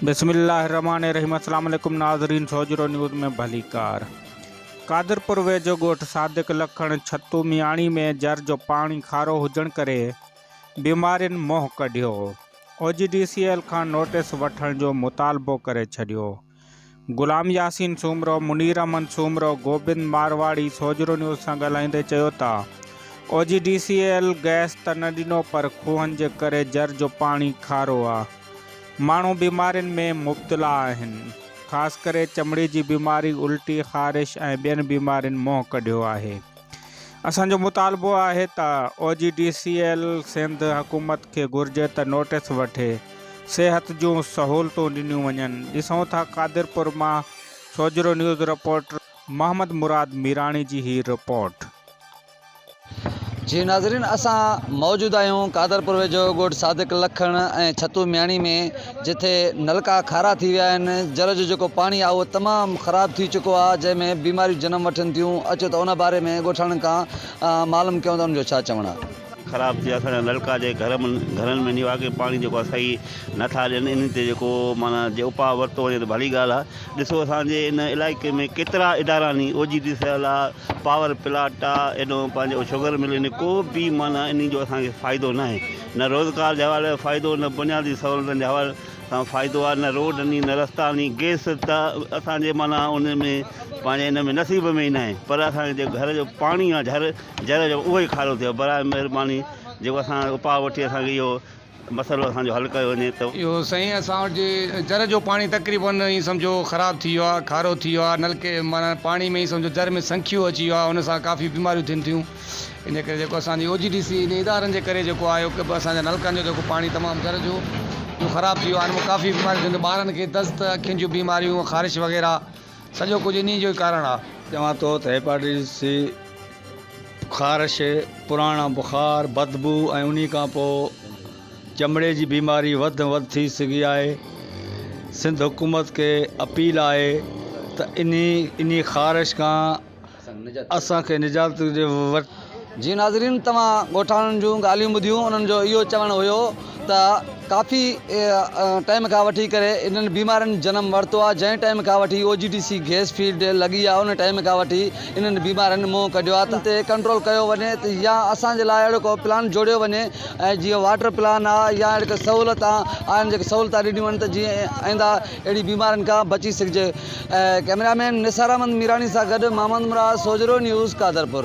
بسم الله الرحمٰن الرحيم اسلام عليڪم ناظرين سوجهرو نيوز ۾ ڀليڪار قادرپور ويجهو ڳوٺ صادق لکڻ ڇتو مياڻي ۾ جر جو پاڻي کارو هجڻ ڪري بيمارين منهن ڪڍيو O G D C L کان نوٽيس وٺڻ جو مطالبو ڪري ڇڏيو غلام ياسين سومرو، منير احمد سومرو، گوبند مارواڙي سوجهرو نيوز سان ڳالهائيندي چيو ته O G D C L gas ته نه ڏنو پر کوهن جي ڪري جر جو پاڻي کارو آ، ماڻهو بيمارين ۾ مبتلا آهن، خاص ڪري چمڙي جي بيماري، الٽي، خارش ۽ ٻين بيمارين منهن ڪڍيو آهي. اسان جو مطالبو آهي ته O G D C L Sindh حڪومت کي گهرجي ته نوٽيس وٺي صحت جون سهولتون ڏنيون وڃن ڏسون ٿا قادرپور مان سوجهرو نيوز رپورٽر محمد مراد ميراڻي جي هي رپورٽ. جي ناظرين اسان موجود آهيون قادرپور ويجهو ڳوٺ صادق لکڻ ۽ ڇتو مياڻي ۾ جتي نلڪا کارا ٿي ويا آهن، جر جو جيڪو پاڻي آهي اهو تمام خراب ٿي چڪو آهي جنهن ۾ بيماريون جنم وٺن ٿيون، اچو ته ان باري ۾ ڳوٺاڻن کان معلوم ڪيون ته انهن جو ڇا چوڻ آهي. خراب ٿي ويا اسان جا نلڪا جي گهر م گهرن ۾ نواڪي پاڻي جيڪو آهي صحيح نه ٿا ڏين انهن تي جيڪو معنيٰ جي اپاء ورتو وڃي ته ڀلي ڳالهه آهي ڏسو اسان جي ان علائقي ۾ ڪيترا ادارا ني O G D C L آهي پاور پلاٽ آهي ايڏو پنهنجو شگر مل ڪو به معنيٰ انهن جو اسان کي فائدو ناهي نه روزگار جي حوالي سان فائدو نه بنيادي سهولتن جي حوالي سان فائدو آهي نه روڊ ني نه رستا ني گئس ته اسان جي معنيٰ ان ۾ پنهنجي ان ۾ نصيب ۾ ئي ناهي پر اسان کي جيڪو گهر جو پاڻي آهي جھر جر جو اهو ئي کارو ٿيو برائي مهرباني جيڪو اسان اپاء وٺي اسان کي اهو مسئلو اسان جو حل ڪيو وڃي ته. اهو سائين اسان وٽ جي جر جو پاڻي تقريبن ائين سمجهو خراب ٿي ويو آهي کارو ٿي ويو آهي نلڪي معنيٰ پاڻي ۾ ئي سمجهو جر ۾ سنکيو اچي ويو آهي ان سان ڪافي بيماريون ٿين ٿيون ان ڪري جيڪو اسان جي او جي ڊي سي ان ادارن جي ڪري جيڪو آهي اهو اسان جي نلڪن جو جيڪو پاڻي تمام تر جو جو خراب ٿي ويو آهي ان ۾ ڪافي بيماريون ٿينديون ٻارن کي دست اکين جون بيماريون خارش وغيره سڄو ڪجهه انهي جو ئي ڪارڻ آهي چوان ٿو ته هيپاٽائٽس سي خارش پراڻا بخار بدبو ۽ انهي کان پوء چمڙي جي بيماري وڌ ۾ وڌ ٿي سگهي آهي سنڌ حڪومت کي اپيل آهي ته انهي انهي خارش کان اسان کي نجات ڏي وٺ. جي ناظرين توهان ڳوٺاڻن جون ڳالهيون ٻڌيون انهن جو اهو چوڻ هيو ته ڪافي ٽائيم کان وٺي ڪري انهن بيمارين جنم ورتو آهي جنهن ٽائيم کان وٺي O G D C gas field لڳي آهي ان ٽائيم کان وٺي انهن بيمارين منهن ڪڍيو آهي ته انهن تي ڪنٽرول ڪيو وڃي يا اسان جي لاء اهڙو ڪو پلان جوڙيو وڃي ۽ جيئن واٽر پلان آهي يا اهڙي ڪا سهولت آهن جيڪي سهولتان ڏنيون وڃن ته جيئن آئنده اهڙي بيمارين کان بچي سگهجي. ڪئميرا مين نثار احمد ميراڻي سان گڏ محمد مراد سوجهرو نيوز قادرپور.